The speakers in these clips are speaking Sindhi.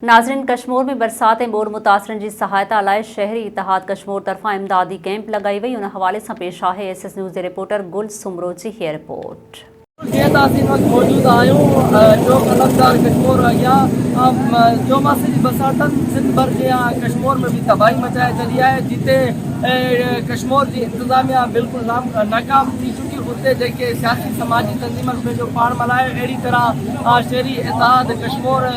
ناظرين ڪشمور ۾ برسات ۽ ٻوڏ متاثرن جي سهائتا لاء شهري اتحاد ڪشمور طرفان امدادي ڪئمپ لڳائي وئي ان حوالي سان پيش آهي ايس ايس نيوز جي رپورٽر گل سومرو جي هيء رپورٽ. جيئن ته اسين وقت موجود آهيون جو قلمدار ڪشمور اڳيان چوماسي جي برساتن سنڌ ڀر جيان ڪشمور ۾ به تباهي مچائي ڇڏي آهي جتي ڪشمور جي انتظاميا بلڪل ناڪام ٿي چڪي اتي جيڪي سياسي سماجي تنظيمن پنهنجو پاڻ ملهايو اهڙي طرح شهري اتحاد ڪشمور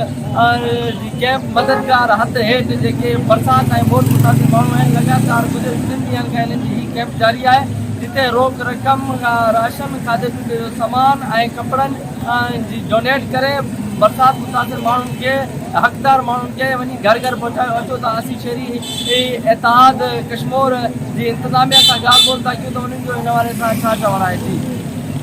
ار جي ڪئمپ مددگار هٿ هيٺ جيڪي برسات ۽ ٻوڏ متاثر ماڻهو آهن لڳاتار گذريل ٽن ڏينهن کان هنن جي هي ڪئمپ جاري آهي جتي روڪ رقم راشن کاڌي پيتي جو سامان ۽ ڪپڙن جي ڊونيٽ ڪري برسات متاثر ماڻهن کي حقدار ماڻهن کي وڃي گهر گهر پهچايو اچو ته اسين شهري اتحاد ڪشمور جي انتظاميه سان ڳالهه ٻولهه ٿا ڪيون ته انهن جو هن حوالي سان ڇا چوڻ آهي ٿي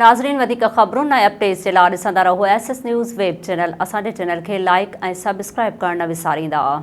ناظرين وڌيڪ خبرون ۽ اپڊيٽس جي لا ڏسندا رهو S S news web channel اسان جي چينل کي لائيڪ ۽ سبسڪرائيب ڪرڻ نه وساريندا.